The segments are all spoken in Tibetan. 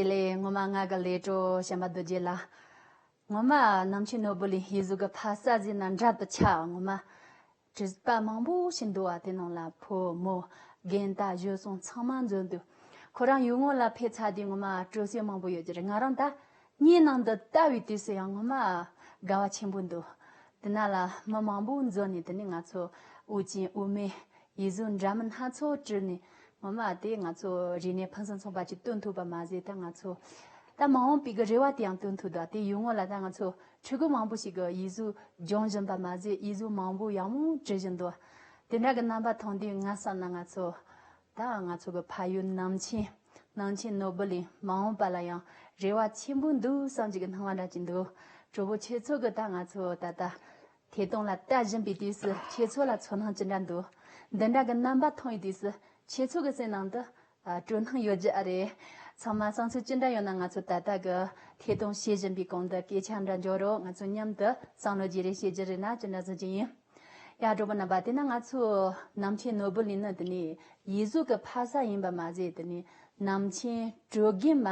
དེ་ལས་སྔོན་མ་ངག་གི་ལས་དྲོ་བྱམས་པ་རྡོ་རྗེ་ལ། སྔོན་མ་ནམ་ཕྱེད་ནོར་བུ་ལས་ཡིད་གཟུགས་ཀྱི་ཕ་ས་ཟིན་ན་འདྲ་དུ་ཆགས་སྔོན་མ། དྲི་ཟ་མང་པོ་ཞིག་འདུ་བ་དེ་རྣམས་ལ་ཕོ་མོ། རྒན་བལྟ་བཞོ་སོང་ཚང་མ་འཛོལ་འདུག་ཁོ་རང་ཡུལ་དངོས་ལ་ཕེབས་ཚར་དུས་སྔོན་མ་སྤྲོ་སེམས་མང་པོ་ཡོད་ཀྱི་རེད་ང་རང་ད་སྙན་ནང་འདི་ལྟ་བུའི་དུས་སུ་ཡང་སྔོན་མ། དགའ་བ་ཆེན་པོ་འདུག་དེ་ན་ལ་མི་མང་པོ་འཛོལ་ནས་དེ་ནས་ང་ཚོ་དབུ་ཅན་དབུ་མའི་ཡིད་བཟོད་འདྲ་མིན་སྣ་ཚོགས་དྲིལ་ནས། ངོ་མ་དེ་ང་ཚོ་རིག་གནས་ཕུན་སུམ་ཚོགས་པ་ཅིག་སྟོན་ཐུབ་པ་མ་ཟད་ད་ང་ཚོ་ད་མ་འོངས་པའི་གི་རེ་བ་དེ་ཡང་སྟོན་ཐུབ་ད་དེ་ཡུལ་དངོས་ལ་ད་ང་ཚོ་ཕྲུ་གུ་མང་པོ་ཞིག་གི་ཡིད་བཟོད་སྦྱོང་བཞིན་པ་མ་ཟད་ཡིད་བཟོད་མང་པོ་ཡང་མོ་དྲིལ་བཞིན་འདུག་དེ་འདྲ་གི་རྣམ་པ་མཐོང་དུས་ང་བསམ་ན་ང་ཚོ་ད་ང་ཚོ་གི་ཕ་ཡུལ་ནང་ཆེན་ནང་ཆེན་ནོར་བུ་ལས་མ་འོངས་པ་ལ་ཡང་རེ་བ་ཆེན་པོ་འདུག་བསམ་གྱི་གི་སྣང་བ་འདྲ་གཅིག་འདུག་གྲོགས་པོ་ཁྱེད་ཚོ་གི་ད་ང་ཚོ་ད་ད་དེ་སྟོང་ལ་ལྟ་བཞིན་པའི་དུས་སུ་ཁྱེད་ཚོ་ལ་ཚོར་སྣང་ཇི་འདྲ་འདུག་འདི་འདྲ་གི་རྣམ་པ་མཐོང་བའི་དུས་སུ་ཁྱེད་ཚོ་གི་སེམས་ནང་དུ། སྤྲོ་སྣང་ཡོད་རྒྱུ་ཨ་རེད། ཚང་མ་བསམ་ཚུལ་ཅི་འདྲ་ཡོད་ན་ང་ཚོ་ད་ལྟ་གི་ཐད་གཏོང་བྱེད་བཞིན་པའི་གོང་དུ་སྐད་ཆ་འདྲ་འཇོག་རོགས་ང་ཚོ་མཉམ་དུ་བསམ་བློ་བརྗེ་རེས་བྱེད་རྒྱུ་རེད་ན་ཅི་འདྲ་བཟོ་རྒྱུ་ཡིན། ཡ་གྲོགས་པོ་རྣམ་པ་དེ་ན་ང་ཚོ་ནམ་མཁའི་ནོར་བུ་ལི་ནི་དེ་ནི་ཡིད་གཟུགས་ཀྱི་ཕ་ས་ཡིན་པ་མ་ཟད་དེ་ནི་ནམ་མཁའི་དྲོད་རྒན་མ་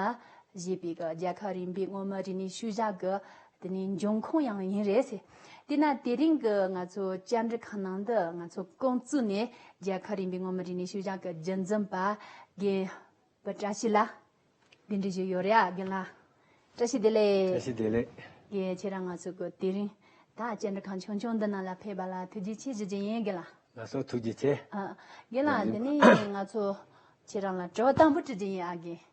ཞེས་པའི་རྒྱལ་ཁབ་རིམ་པའི་སྔོན་མོ་རི་ནི་ཤུལ་བཞག་གི་དེ་ནི་འབྱུང་ཁུངས་ཡང་ཡིན་རེད། དེས་ན་དེ་རིང་གི་ང་ཚོ་བཅར་འདྲི་ཁང་ནང་དུ་ང་ཚོ་ཀོང་ཙུའུ་ནས་རྒྱལ་ཁབ་རིམ་པའི་མངོན་མི་རིག་གནས་ཤུལ་བཞག་གི་རྒྱུན་འཛིན་པ་རྒན་པོ་བཀྲ་ཤིས་ལགས་འདི་འདྲི་བཞིན་ཡོད་རེད་ཨ་རྒན་ལགས། བཀྲ་ཤིས་བདེ་ལེགས། བཀྲ་ཤིས་བདེ་ལེགས། རྒན་ཁྱེད་རང་ང་ཚོ་གི་དེ་རིང་ད་བཅར་འདྲི་ཁང་ཆུང་ཆུང་འདི་ནང་ལ་ཕེབས་པ་ལ་ཐུགས་རྗེ་ཆེ་ཞུ་རྒྱུ་ཡིན་རྒན་ལགས། ལགས་སོ་ཐུགས་རྗེ་ཆེ། རྒན་ལགས་འདི་ནས་ང་ཚོ་ཁྱེད་རང་ལ་དྲི་བ་དང་པོ་དྲི་རྒྱུ་ཡིན་ཨ་རྒན།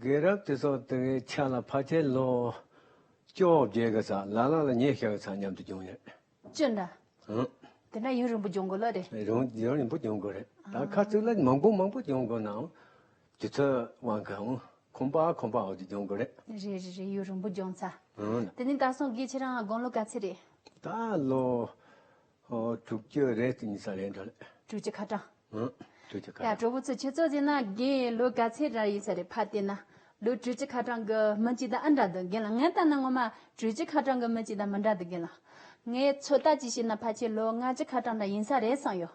དགེ་རབ་ཏུ་སོགས་དེ་བས་ཆ་ལ་ཕ་ཁྱེད་བློ། བཅོ་བརྒྱད་དགའ་ཚ་ལ་ལ་ལ་ཉེས་བྱ་བའི་ཚ་མཉམ་དུ་སྦྱོང་ཡོད། སྤྱིར་ན། ཧུང། དེ་འདྲ་ཡུན་རིང་པོ་སྦྱོང་དགོས་ལོས་རེད། རིང་ཡུན་རིང་པོ་སྦྱོང་དགོས་རེད། ད་ཁ་ཚུགས་ལ་མང་པོ་མང་པོ་སྦྱོང་དགོས་ནའང། དུས་ཚོད་དབང་གིའང་ཁོམ་པ་ཁོམ་པ་འོག་ཏུ་སྦྱོང་དགོས་རེད། རེད་རེད་རེད་ཡུན་རིང་པོ་སྦྱོང་ཚ། ཧུང། དེ་ནི་ད་སོང་དགེ་ཆེ་རང་དགོང་ལོ་ག་ཚད་རེད། ད་ལོ། དྲུག་ཅུ་རེ་གཅིག་གཉིས་གསང་ལས་འགྲོ་ལས། དྲུག་ཅུ་ཁ་གྲངས། ཨང། དྲུག་ཅུ་ཁ་གྲངས། ཡ་གྲོགས་པོ་ཚོ་ཁྱེད་ཚོ་ཟེར་ན་རྒན་ཡོལ་ལོ་ག་ཚད་རག་ཡོད་ས་རེད་ཕར་བལྟས་ན་ལོ་དྲུག་ཅུ་ཁ་གྲངས་གི་མི་གཅིག་དང་ཨ་འདྲ་འདུག་རྒན་ལགས་ངས་བལྟ་ན་ངོ་མ་དྲུག་ཅུ་ཁ་གྲངས་གི་མི་གཅིག་དང་མི་འདྲ་འདུག་རྒན་ལགས། ངས་ཚོད་ལྟ་གཅིག་བྱས་ན་ཕ་ཁྱེད་ལོ་ལྔ་བཅུ་ཁ་གྲངས་འདྲ་ཡིན་ས་རེད་བསམ་ཡོད།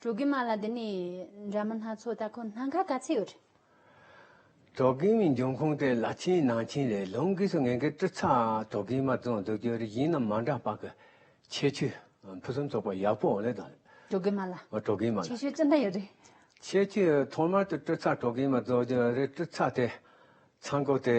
གྲོ་གིང་མ་ལ་འདི་ནས་འདྲ་མིན་སྣ་ཚོགས་ལྟ་ཁོ་ན་ག་ག་ཚད་ཡོད། གྲོ་གིང་མའི་འབྱུང་ཁུངས་དེ་ལ་ཆིན་ནང་ཆིན་ལས་ལུང་གིས་སུ་ངན་གི་ཏྲི་ཚ་གྲོ་གིང་མ་བཙོང་འདོད་རྒྱུ་རིགས་ཡིན་ནམ་མ་འདྲ་བག་གི་ཁྱད་ཆོས་ཕུན་སུམ་ཚོགས་པ་ཡག་པོ་འོང་ལེ་དང། གྲོ་གིང་མ་ལ་གྲོ་གིང་མ་ལ་ཁྱད་ཆོས་ཅི་འདྲ་ཡོད་རེད། ཁྱད་ཆོས་ཐོག་མར་དུ་ཏྲི་ཚ་གྲོ་གིང་མ་བཙོང་རྒྱུ་རིགས་ཏྲི་ཚ་དེ་ཚང་གོ་དེ།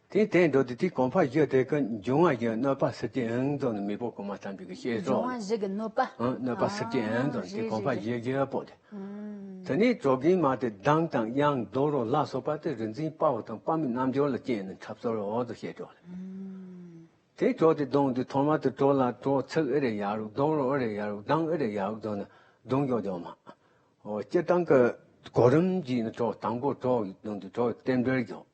དེའི་སྟེང་མདོ་སྡེ་དེའི་གོང་འཕགས་བཞི་སྟེ་ཀུན་འབྱུང་དབང་བཞི་གནོད་པ་སེར་སྐྱའི་ཨེ་འདོན་ནི་མི་པོ་གོང་མ་ཐམས་ཅད་ཀྱི་ཤེས་སོ། ཀུན་འབྱུང་དབང་བཞི་གི་གནོད་པ། གནོད་པ་སེར་སྐྱའི་ཨེ་འདོན་དེའི་གོང་འཕགས་བཞི་བཞི་པོ་སྟེ། དེ་ནས་གྲོ་གིང་མ་སྟེ་གདངས་དང་དབྱངས་རྡོ་རོ་ལ་སོགས་པ་སྟེ་རིག་འཛིན་དཔའ་བོ་དང་དཔའ་མོའི་རྣལ་འབྱོར་ལ་བསྐྱེད་ནས་འཁྲབ་སོར་འོག་ཏུ་བཤད་གྲོགས་ལས། དེའི་གྲོགས་ཏེ་གདོང་དུ་ཐོག་མ་དུ་གྲོགས་ལ་གྲོགས་ཚིག་ཨེ་རེ་ཡ་རུག་གདོང་རོ་ཨེ་རེ་ཡ་རུག་གདངས་ཨེ་རེ་ཡ་རུག་འདོན་ནི་གདུང་གཡོག་འཇོག་མ། སྤྱིར་བཏང་གི་གོ་རིམ་གྱིས་ནི་གྲོགས་དང་པོ་གྲོགས་ཀྱི་གདོང་དུ་གྲོགས་ཀྱི་རྟེན་འབྲེལ་འཇོག།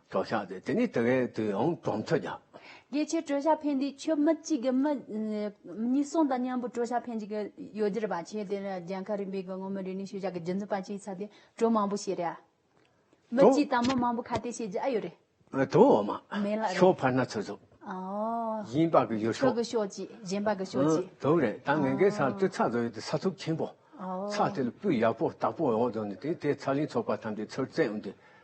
གྲོགས་ཤ་སྟེ་དེ་ནི་དེ་བས་དུས་ཡང་གྲོང་ཚོ་བརྒྱ། དགེ་ཆེ་གྲོས་ཤ་ཕན་དེ་ཁྱོད་མི་གཅིག་གི་མི། གཉིས་གསུང་དང་མཉམ་པོ་གྲོས་ཤ་ཕན་གཅིག་ཡོ་རྒྱུར་བ་ཆེ་དེ་ལ་རྒྱལ་ཁ་རིམ་པའི་དགོན་སྔོན་མོ་རེ་ནས་ཤུལ་བཞག་གི་རྒྱུ་འཛིན་པ་གཅིག་ཚ་དེ་གྲོས་མང་པོ་ཤེས་རེ་ཨ། མི་གཅིག་དང་མི་མང་པོ་ཁ་གཏད་བྱེད་རྒྱུ་ཨ་ཡོད་རེ། དོ་འོ་མ། མེ་ལགས་རེད། ཤོག་འཕར་སྣ་ཚོགས་འཛུགས། ཨོ། གཞན་པ་གི་ཡོད་ཤོག། ཁྱོད་ཀྱི་ཤོག་ཅིག་གཞན་པ་གི་ཤོག་ཅིག། དོ་རེད་ད་ངེད་ཀྱི་ས་དེ་ཚ་བཟོ་ཡོད་དེ་ས་ཚུགས་ཆེན་པོ། ཚ་དེ་ལ་སྤུས་ཡག་པོ་སྟག་པོ་ཡོང་བཟོ་ནས་དེ་དེ་ཚ་ལིང་ཚོགས་པ་ཐམས་ཅད་ཚུར་བཙན་འོང་དུས།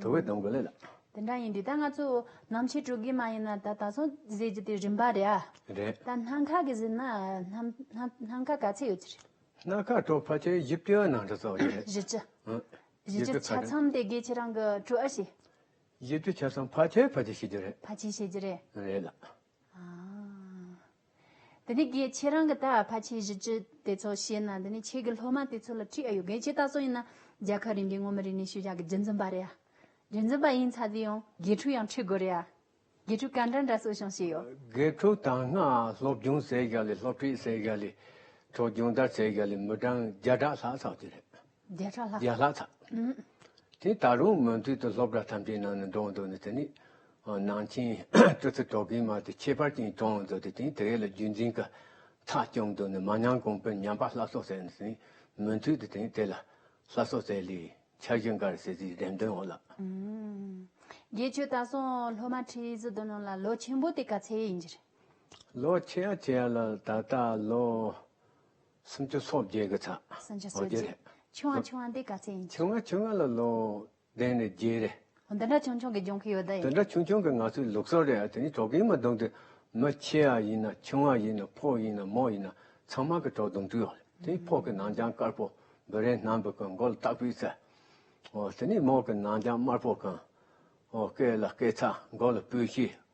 དྲོ་བའི་གདངས་ཀླད་ལ། དེ་འདྲ་ཡིན་དུས་ད་ང་ཚོ་ནམ་ཕྱེད་དྲོ་གི་མ་ཡིན་ན་ད་ད་སོང་ཟེར་གྱི་དེ་རིམ་པ་རེད་ཨ། རེད། ད་སྣ་ཁ་གི་ཟེར་ན་སྣ་ཁ་ག་ཚད་ཡོད་ཀྱི་རེད། སྣ་ཁ་དྲོ་ཕལ་ཆེར་བཞི་བཅུ་ཡང་ནང་འདྲ་ཚོ་རེད། བཞི་བཅུ། བཞི་བཅུ་ཆ་ཚང་དེ་དགེ་ཁྱེད་རང་གི་དྲོ་ཨ་ཞེས། བཞི་བཅུ་ཆ་ཚང་ཕལ་ཆེར་ཕལ་ཆེར་བཤད་རྒྱུ་རེད། ཕལ་ཆེར་བཤད་རྒྱུ་རེད། རེད་ལ། ཨ། དེ་ནས་གིས་ཁྱེད་རང་གི་ད་ཕ་ཁྱེད་གཞི་ཅི་དེ་ཚོ་བཤད་ན་དེ་ནས་ཁྱེད་གི་སློབ་མ་དེ་ཚོ་ལ་ཁྲིད་ཨ་ཡོད་གི་ཁྱེད་ད་ཚོ་ཡིན་ན་རྒྱ་གར་རིན་གི་ངོ་མི་རིན་ནས་ཤུ་བཞག་གི་རྒྱུ་འཛིན་པ་རེད་ཡ། རྒྱུ་འཛིན་པ་ཡིན་ཚ་དེ་ཡང་དགེ་ཕྲུག་ཡང་ཁྲིད་དགོས་རེད་ཡ། དགེ་ཕྲུག་ག་འདྲ་འདྲ་གསོ་སྐྱོང་བྱས་ཡོད། དགེ་ཕྲུག་དང་སྔགས་སློབ་སྦྱོང་བྱས་བཞག་ལས་སློབ་ཁྲིད་བྱས་བཞག་ལས་ཚོགས་སྦྱོང་ལྟར་བྱས་བཞག་ལས་མི་གྲངས་བརྒྱ་ཕྲག་ལྷག་ཚགས་ཀྱི་རེད། བརྒྱ་ཕྲག་ལྷག། བརྒྱ་ལྷག་དག། དེ་ད་རུང་མུ་མཐུད་དུ་སློབ་གྲྭ་ཐམས་ཅད་ནང་ནས་འགྲོ་འདུག་ནས་དེ་ནི། ནང་ཆེན་སྤྲུལ་ཚེ་རྡོ་རྗེའི་མར་དེ་ཁྱད་པར་ཅན་བཏང་འདུག་དེ་དེང་དེ་གའི་ལ་རྒྱུད་འཛིན་ཀ་ཁྲག་བསྐྱངས་འདུག་ནས་མ་ཉམས་གོང་འཕེལ་ཉམས་པ་ལྷ་སོགས་ཟེར་ནས་མུ་མཐུད་དུ་དེང་དེ་ལ་ལྷ་སོགས་ཟེར་ལིས་འཆར་གཞི་འགའ་རེ་ཟེར་ཟིའི་འགྲེམས་སྟོན་འོག་ལ། དགེ་ཆོས་ད་སོང་སློབ་མ་ཁྲི་བཞི་བདུན་ལོན་ལ་ལོ་ཆེན་པོ་དེ་ག་ཚད་ཡིན་རྒྱུ་རེད། ལོ་ཆེ་ཡ་ཆེ་ཡ་ལ་ད་ལྟ་ལོ། སུམ་ཅུ་སོ་བརྒྱད་ཀྱི་ཚ། སུམ་ཅུ་སོ་བརྒྱད། ཆུང་བ་ཆུང་བ་འདི་ག་ཚད་ཡིན། ཆུང་བ་ཆུང་བ་ལ་ལོ་ལྡན་ནི་བརྒྱད་རེད། འདི་འདྲ་ཆུང་ཆུང་གི་སྦྱོང་གི་ཡོད་ད་ཡིན། འདི་འདྲ་ཆུང་ཆུང་གི་ང་ཚོའི་ལུགས་སྲོལ་རེད་དེ་ནི་གྲོགས་ཀྱིས་མ་བསྡོམས་ཏེ་མི་ཆེ་བ་ཡིན་ན་ཆུང་བ་ཡིན་ན་ཕོ་ཡིན་ན་མོ་ཡིན་ན་ཚང་མ་གི་གྲོགས་བསྡོམས་འདྲི་ཡོང་རེད་དེ་ཕོ་གི་ནང་རྐྱང་དཀར་པོ་འབུ་རན་སྣམ་བུ་གི་མགོ་ལ་སྟག་པའི་རྩེ། དེ་ནི་མོ་གི་ནང་རྐྱང་དམར་པོ་གི་མགོ་སྐེ་ལ་སྐེ་ཚ་མགོ་ལ་སྤོས་ཤེལ།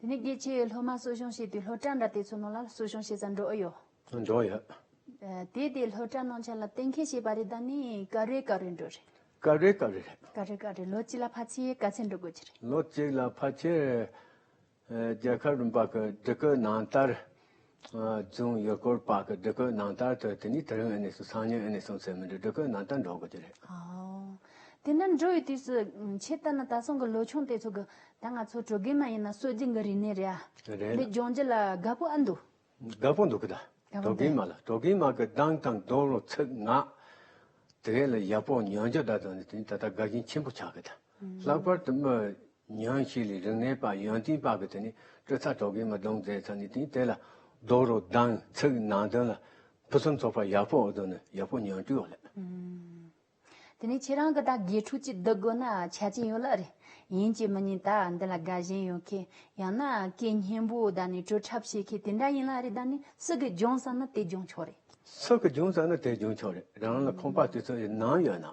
དེ་ནས་སྐྱེད་བྱེད་སློབ་མ་གསོ་སྦྱོང་བྱེད་དུས་སློབ་གྲྭ་འདྲ་དེ་ཚོ་ནང་ལ་གསོ་སྦྱོང་བྱེད་ས་འགྲོ་ཨེ་ཡོད། འགྲོ་ཡོད། དེ་དེ་སློབ་གྲྭ་ནང་ཆ་ལ་གཏན་འཁེལ་བྱས་པ་རེད་ད་ནི་ཀ་རེ་ཀ་རེ་འགྲོ་རེད། ཀ་རེ་ཀ་རེ་རེད། ཀ་རེ་ཀ་རེ་ལོ་གཅིག་ལ་ཕ་ཆེ་ག་ཚད་འགྲོ་དགོས་ཀྱི་རེད། ལོ་གཅིག་ལ་ཕ་ཆེ། རྒྱལ་ཁབ་རིམ་པ་གི་སྒྲིག་བཀོད་ནང་ལྟར། ཅུང་ཡུལ་སྐོར་དཔག་གི་སྒྲིག་བཀོད་ནང་ལྟར་དུ་དེ་ནི་དེ་རིང་ཨེ་ནས་སོང་སང་ཉིན་ཨེ་ནས་སོང་ཚེ་མི་འགྲིག་སྒྲིག་བཀོད་ནང་ལྟར་འགྲོ་དགོས་ཀྱི་རེད། དེ་འདྲ་འགྲོ་ཡི་དུས་སུ་ཁྱེད་ལྟར་ན་ད་སོང་གི་ལོ་ཆུང་དེ་ཚོ་གི་ད་ང་ཚོ་བྲོ་དགེ་མ་ཡིན་ན་གསོད་རྒྱུ་འགའ་རིག་ནས་རེད་ཨ། རེད་ན། འདི་སྦྱོང་རྒྱུ་ལ་དགའ་པོ་ཨ་འདུག། དགའ་པོ་འདུག་གི་ད། བྲོ་དགེ་མ་ལ་བྲོ་དགེ་མ་གི་གདངས་དང་རྡོ་ལོ་ཚིག་ངག། དེ་ག་ལ་ཡག་པོ་ཉོན་རྒྱུ་ད་དུང་ནི་དེ་ནི་ད་ལྟ་དགའ་ཞེན་ཆེན་པོ་ཆགས་གི་ད། ལྷག་པར་དུ་སྨོས་ཉང་ཤེས་ལས་རིག་གནས་པ་ཡོན་ཏིང་པ་གི་དེ་ནས་སྤྲོས་ཚ་དོག་གིས་མི་གདུང་མཛད་ཚར་ནས་དེང་དེ་ལ་རྡོ་རུ་གདངས་ཚིག་ནང་དོན་ལ་ཕུན་སུམ་ཚོགས་པ་ཡག་པོ་འོ་དོ་ནི་ཡག་པོ་ཉོན་སྤྲུལ་བ་ལ། དེ་ནས་ཁྱེད་རང་གི་ད་དགེ་ཕྲུག་ཅིག་བསྡུ་དགོས་ན་ཆ་རྐྱེན་ཡོད་ལགས་རེད། ཡིན་གྱི་མི་ཉིན་ད་འདི་ལ་དགའ་ཞེན་ཡོད་མཁན་ཡང་ན་སྐད་སྙན་པོ་ད་ནི་བྲོ་འཁྲབ་བྱེད་མཁན་དེ་འདྲ་ཡིན་ལགས་རེད་ད་ནི་སུ་གི་སྦྱོང་ས་ན་དེ་སྦྱོང་ཆོག་རེད། སུ་གི་སྦྱོང་ས་ན་དེ་སྦྱོང་ཆོག་རེད་རང་ལ་ཁོམ་པ་དེ་ཚོ་ཡི་ནང་ཡོད་ན།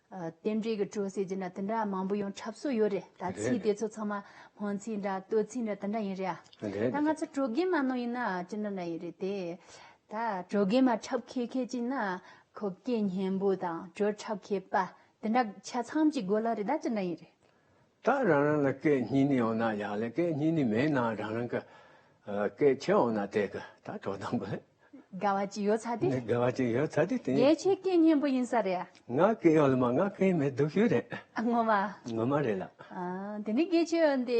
རྟེན་འབྲེལ་གྱི་དྲོ་ཟེར་གྱི་ན་དེ་འདྲ་མང་པོ་ཡང་འཁྲབ་སྲོལ་ཡོད་རེད་ད་ཚིག་དེ་ཚོ་ཚང་མ་སྨོན་ཚིག་འདྲ་བསྟོད་ཚིག་འདྲ་དེ་འདྲ་ཡིན་རེད་ཨ། ད་ང་ཚོ་དྲོ་རྒན་མ་ནང་ཡིན་ན་ཅི་འདྲ་འདྲ་ཡིན་རེད་དེ། ད་དྲོ་རྒན་མ་འཁྲབ་མཁས་མཁས་ཅིག་ན་ཁོ་སྐད་སྙན་པོ་དང་དྲོད་འཁྲབ་མཁས་པ་དེ་འདྲ་ཆ་ཚང་གཅིག་དགོས་ལ་རེད་ད་ཅི་འདྲ་ཡིན་རེད། ད་རང་རང་ལ་སྐད་གཉིས་ནི་ཡོད་ན་ཡག་ལེ་སྐད་གཉིས་ནི་མེད་ན་རང་རང་གི་སྐད་ཆ་ཡོད་ན་དེ་གི་ད་དོ་དམ་གི། དགའ་བ་ཅིག་ཡོད་ཚ་དེ། དགའ་བ་ཅིག་ཡོད་ཚ་དེ་དེ། རྒྱལ་ཁྱེད་སྐད་སྙན་པོ་ཡིན་ས་རེད། ང་སྐད་ཡོད་ལ་མ་ང་སྐད་མེད་སྡུག་ཤོས་རེད། ངོ་མ། ངོ་མ་རེད་ལགས། དེ་ནས་སྐད་ཆ་ཡོད་དེ་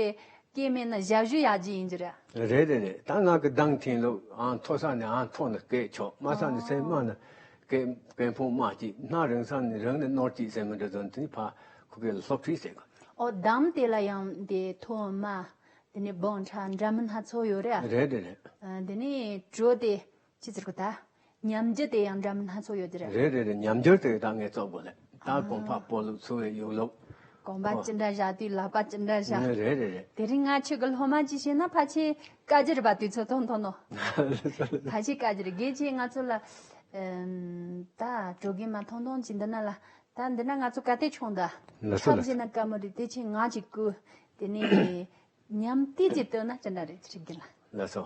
སྐད་མེད་ན་ཞབས་ཞུ་ཡག་ཅིག་ཡིན་རྒྱུ་རེད། རེད་རེད་རེད་ད་ང་གི་གདངས་ཐིང་ལོ་ཨང་མཐོ་ས་ནས་ཨང་མཐོ་ན་སྐད་ཆོག་དམའ་ས་ནས་སེམས་དམའ་ན་སྐད་དཔེ་ཕོ་མ་གཅིག་སྣ་རིང་ས་ནས་རང་ནས་ནོར་གཅིག་ཟེར་མི་འདྲ་དོན་དེ་ཕ་ཁུ་གེ་ལ་སློབ་ཁྲིད་བྱེད་དགོས། ཨོ་དམ་དེ་ལ་ཡང་དེ་ཐོ་མ་དེ་ནས་བོང་ཁྲ་འདྲ་མིན་སྣ་ཚོགས་ཡོད་རེད་ཨ། རེད་རེད་རེད། དེ་ནས་གྲོ་དེ་ཅི་ཟེར་དགོས་ད། ཉམས་འགྱུར་དེ་ཡང་འདྲ་མིན་སྣ་ཚོགས་ཡོད་རེད་ཨ། རེད་རེད་རེད་ཉམས་འགྱུར་དེ་ད་ངས་རྩོད་དགོས་རེད་ད་གོང་ཕ་སྤོ་ལུགས་འཚོ་བའི་ཡུལ་ལུགས། གོང་པ་ཅི་འདྲ་བཞག་དུས་ལག་པ་ཅི་འདྲ་བཞག། རེད་རེད་རེད། དེ་རིང་ང་ཁྱོད་ཀྱི་སློབ་མ་གཅིག་བྱས་ན་ཕ་ཁྱེད་བཀའ་བརྒྱུད་པ་དུས་ཚོད་སྟོང་ཐོན་ནོ། ད་ཅི་བཀའ་བརྒྱུད་རྒྱལ་སྤྱིའི་ང་ཚོ་ལ། ད་གྲོ་གིན་མ་ཐོང་ཐོང་ཅིག་འདི་ན་ལ། ད་འདི་ན་ང་ཚོ་ག་དེ་ཆུང་ད། ཐབས་བཞི་ན་བཀའ་མོ་རི་དེ་ཆེ་ང་ཅིག་སྐུ། དེ་ནས། ཉམས་དུས་ཅིག་སྟོན་ན་ཅི་འདྲ་རེད་ཅིག་གིན་ལ། ལ་སོ།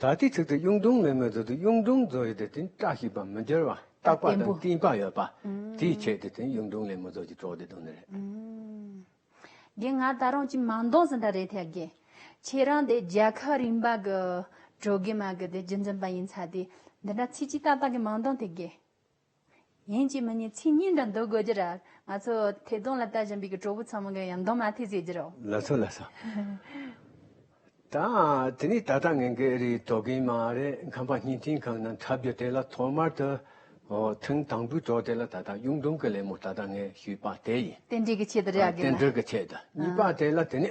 ད་ལྟའི་ཚིག་ཏུ་གཡུང་དྲུང་མེས་མོའི་མཛོད་དུ་གཡུང་དྲུང་མཛོད་ཡོད་དེ་བརྟེན་བཀྲ་ཤིས་པ་མི་འགྱུར་བ་རྟག་པ་དང་གཏིང་དཔག་ཡོད་པ། དེའི་ཆེད་དུ་བརྟེན་གཡུང་དྲུང་ལས་མོ་མཛོད་ཀྱི་གྲོགས་དེ་དོན་རེད། དགེ་ང་ད་རུང་ཅི་མང་འདོང་ཟིན་ད་རེད་ཐལ་དགེ། ཁྱེད་རང་དེ་རྒྱལ་ཁབ་རིམ་པ་གི་གྲོགས་དགེ་མ་གི་དེ་རྒྱུན་འཛིན་པ་ཡིན་ཚ་དེ་འདི་འདྲ་ཚིག་ཅིག་ཏག་ཏག་གི་མང་འདོང་ཐལ་དགེ། ཡིན་གྱི་མི་ཉིད་ཚིག་སྙན་དྲང་འདོད་དགོས་རྒྱུར། ང་ཚོ་ཐད་གཏོང་ལ་ལྟ་བཞིན་པའི་གྲོགས་པོ་ཚང་མ་གང་ཡང་མདོ་མ་ཐེག་ཟེར་རྒྱུ་རོ། ལ་སོ་ལ་སོ། དང། དེ་ནི་ད་ལྟ་ངེད་ཀྱི་རིགས་རྡོ་རྒན་མ་རེད་མཁན་པ་སྙིང་མཐིང་གང་ན་འཁྲབ་རྒྱུ་དེ་ལ་ཐོག་མར་དུ། ཨོ། ཐེངས་དང་པོའི་གྲོགས་དེ་ལ་ད་ལྟ་གཡུང་དྲུང་གི་ལས་མོ་ད་ལྟ་ངས་ཞུས་པ་དེ་ཡིན། རྟེན་འབྲེལ་གྱི་ཆེད་དུ་རེད་དགོས་ན། རྟེན་འབྲེལ་གྱི་ཆེད་དུ་གཉིས་པ་དེ་ལ་དེ་ནི།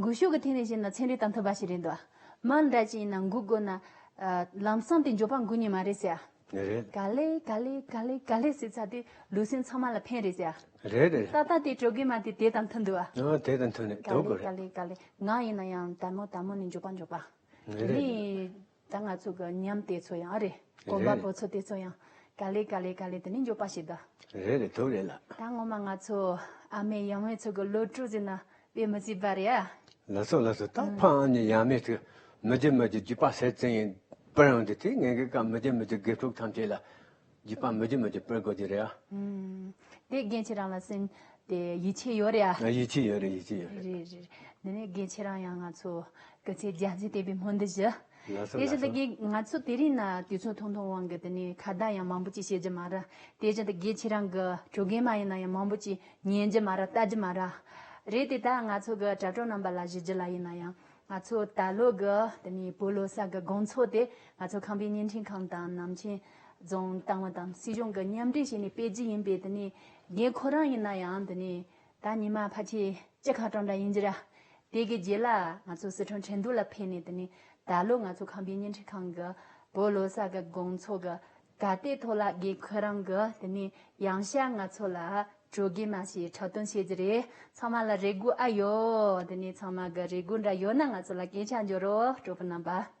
འགུལ་ཤུགས་ཀྱི་ཐིག་ནས་བཤད་ན་ཚན་རིག་དང་མཐུན་པ་ཞིག་རེད་འདུག་མ་འདྲ་ཅི་ཡིན་ན་འགུལ་དགོས་ན། ལམ་སང་དེ་འཇོག་པ་འགུལ་ཉེས་མ་རེད་ཟེར། རེད། ག་ལེ་ག་ལེ་ག་ལེ་ག་ལེ་ཟེར་ཚར་དུས་ལུས་སེམས་ཚང་མ་ལ་ཕན་རེད་ཟེར། རེད་རེད། ད་ལྟ་དེ་སྤྲོད་དགོས་མ་དེ་དེ་དང་མཐུན་འདུག་ཨ། ཨ་དེ་དང་མཐུན་ནས་འདུག་ག་ལེ་ག་ལེ་ག་ལེ་ང་ཡིན་ན་ཡང་དལ་མོ་དལ་མོ་ནས་འཇོག་པ་འཇོག་པ། རེད། ད་ང་ཚོ་གི་ཉམས་དེ་ཚོ་ཡང་རེད། གོམ་པ་པོ་ཚོ་དེ་ཚོ་ཡང། ག་ལེ་ག་ལེ་ག་ལེ་དེ་ནི་འཇོག་པ་ཞིག་གདའ། རེད་རེད་ཐུགས་རེད་ལགས། ད་སྔོན་མ་ང་ཚོ་ཨ་མའི་ཡང་མེས་ཚོ་གི་བློ་གྲོས་ཟེར་ན་དཔེ་མི་སྲིད་པ་རེད་ཨ། ལགས་སོ་ལགས་སོ་ད་ཕ་ཨ་ནི་ཡང་མེས་ཚོས་མི་བརྗེད་མི་བརྗེད་བརྗེད་པ་སེ་བཙན་ཡིན་པར་ཡང་དེ་ཚོས་ངེད་གི་སྐབས་མི་བརྗེད་མི་བརྗེད་དགེ་ཕྲུག་ཐམས་ཅད་ལ། རྗེ་པདྨ་མོ་དེ་མོ་དེ་པོའི་སྒོ་དེ་རེད་ཨ། དེ་རྒན་ཁྱེད་རང་ལ་སེམས་དེ་ཡིད་ཆེས་ཡོད་རེད་ཨ། ཡིད་ཆེས་ཡོད་རེད་ཡིད་ཆེས་ཡོད་རེད། རེད་རེད་དེ་ནས་རྒན་ཁྱེད་རང་ཡང་ང་ཚོ་སྐུ་ཚེ་རྒྱ་མཚོའི་དད་པའི་སྨོན་འདུན་ཞུ། ལགས་སོ་ལགས་སོ། དེ་བཞིན་དུ་རྒན་ང་ཚོ་དེ་རིང་ན་དུས་ཚོད་ཐུང་ཐུང་དབང་གི་དེ་ནས་ཁ་བརྡ་ཡང་མང་པོ་ཅིག་བྱེད་རྒྱུ་མ་རེད། དེ་བཞིན་དུ་རྒན་ཁྱེད་རང་གི་དྲུག་རྒན་མ་ཡིན་ན་ཡང་མང་པོ་ཅིག་ཉན་རྒྱུ་མ་རེད་ལྟ་རྒྱུ་མ་རེད། རེད་དེ་ད་ང་ཚོ་གི་དྲ་གྲོགས་རྣམ་པ་ལ་བཞི་བརྒྱུད་ལ་ཡིན་ན་ཡང་ང་ཚོ་ད་ལོ་གི་དེ་ནས་བོད་ལོ་སར་གི་དགོང་ཚོགས་དེ་ང་ཚོ་ཁམས་པའི་བརྙན་འཕྲིན་ཁང་དང་ནམ་མཁྱེན་རྫོང་ཏང་ཨུ་དང་སྲིད་གཞུང་གི་མཉམ་འབྲེལ་བྱས་ནས་སྤེལ་རྒྱུ་ཡིན་པས་འདི་ནི་རྒན་ཁོ་རང་ཡིན་ན་ཡང་འདི་ནི་ད་ཉི་མ་ཕ་ཁྱེད་སྤྱི་ཁ་གྲངས་འདྲ་ཡིན་རྒྱུ་ར། དེ་གི་རྗེས་ལ་ང་ཚོ་སི་ཁྲོན་ཁྲེན་ཏུའུ་ལ་ཕེབས་ནས་འདི་ནི་ད་ལོ་ང་ཚོ་ཁང་པའི་བརྙན་འཕྲིན་ཁང་གི་བོད་ལོ་སར་གི་དགོང་ཚོགས་ཀྱི་ག་ལྟའི་ཐོག་ལ་རྒན་ཁོ་རང་གི་འདི་ནི་ཡང་ཞར་ང་ཚོ་ལ་དྲོ་རྒན་མ་ཞེས་འཁྲབ་སྟོན་བྱེད་རྒྱུ་རེད་ཚང་མ་ལ་རེ་སྒུག་ཨ་ཡོད་འདི་ནི་ཚང་མ་གི་རེ་སྒུག་འདྲ་ཡོད་ན་ང་ཚོ་ལ་སྐད་ཆ་འཇོག་རོགས་གྲོགས་པོ་རྣམ་པ།